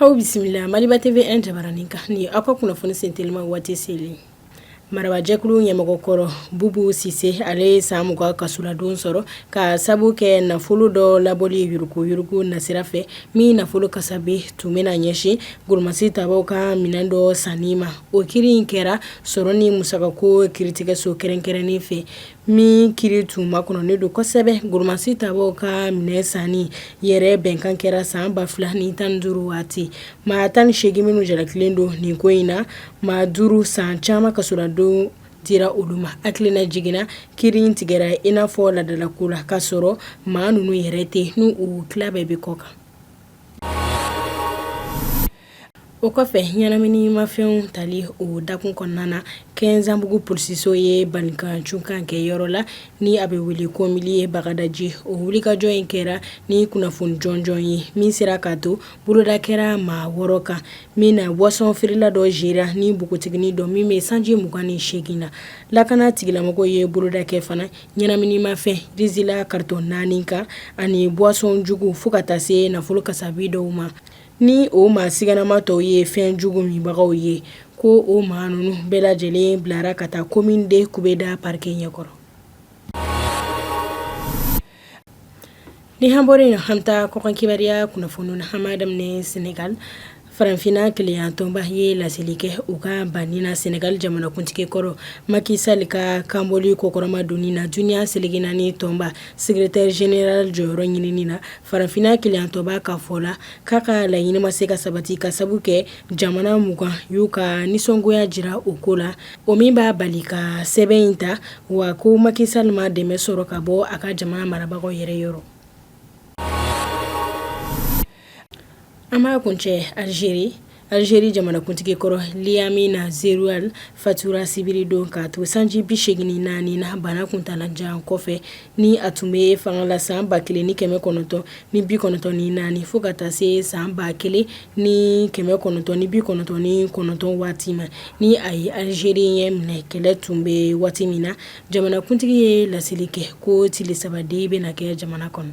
Aw bisimila maliba TV jabaranin kan ni aw ka kunnafoni sentelima waati selen marabajɛkulu ɲɛmɔgɔ kɔrɔ bubu sise ale ye san mugan kasoladon sɔrɔ ka sabu kɛ nafolo dɔ labɔli yurugu yurugu nasira fɛ min nafolo kasabe tun bɛ na ɲɛsin goromasi tabaw ka minɛn dɔ sanni ma o kiiri in kɛra sɔrɔ ni musakako kiritigɛso kɛrɛnkɛrɛnnen fɛ min kiiri tun makɔnɔnen don kosɛbɛ goromasi tabaw ka minɛn sanni yɛrɛ bɛnkan kɛra san ba fila ni tan duuru waati maa tan ni seegin minnu jalakilen don nin ko in na maa duuru san caman kasoladon dira olu ma hakililajigin na kiiri in tigɛra in i n'a fɔ ladalako la k'a sɔrɔ maa ninnu yɛrɛ tɛ n' u tila bɛɛ bɛ kɔkan O kɔfɛ ɲɛnaminimafɛnw tali o dakun kɔnɔna na Kɛnzanbugu polisiso ye balikacunkan kɛ yɔrɔ la ni a bɛ wele ko miliye Bagadaji o wulikajɔ in kɛra ni kunnafoni jɔnjɔn ye min sera ka to boloda kɛra maa wɔɔrɔ kan min na buwasɔn feerela dɔ yera ni npogotiginin dɔ min bɛ sanji mugan ni seegin na lakanatigilamɔgɔw ye boloda kɛ fana ɲɛnaminimafɛn rizila karitɔn naani kan ani buwasɔn jugu fo ka taa se nafolo kasabi dɔw ma ni o maa siganama tɔw ye fɛn jugu minbagaw ye ko o maa ninnu bɛɛ lajɛlen bilara ka taa komini de kubeda pariki ɲɛkɔrɔ ni an bɔra yen an bɛ taa kɔkan kibaruya kunnafoni na an b'a daminɛ Senegali farafinna kelenya tɔnba ye laseli kɛ u ka banni na Senegali jamanakuntigi kɔrɔ Maki Sali ka kanbɔli kɔkɔrɔmadonni na duniya seleke naani tɔnba Sekeretɛri zenerali jɔyɔrɔ ɲinini na farafinna kelenya tɔnba ka fɔ la k'a ka laɲini ma se ka sabati ka sabu kɛ jamana mugan y'u ka nisɔngoya jira o ko la o min b'a bali ka sɛbɛn in ta wa ko Maki Sali ma dɛmɛ sɔrɔ ka bɔ a ka jamana marabagaw yɛrɛ yɔrɔ an b'a kuncɛ Alizeri Alizeri jamanakuntigi kɔrɔ Liamine Zeroual fatura sibiri don ka to sanji bi seegin ni naani na bana kuntaalajan kɔfɛ ni a tun bɛ fanga la san ba kelen ni kɛmɛ kɔnɔntɔn ni bi kɔnɔntɔn ni naani fo ka taa se san ba kelen ni kɛmɛ kɔnɔntɔn ni bi kɔnɔntɔn ni kɔnɔntɔn waati ma ni a ye alizeri ɲɛminɛ kɛlɛ tun bɛ waati min na jamanakuntigi ye laseli kɛ ko tile saba deuil bɛ na kɛ jamana kɔnɔ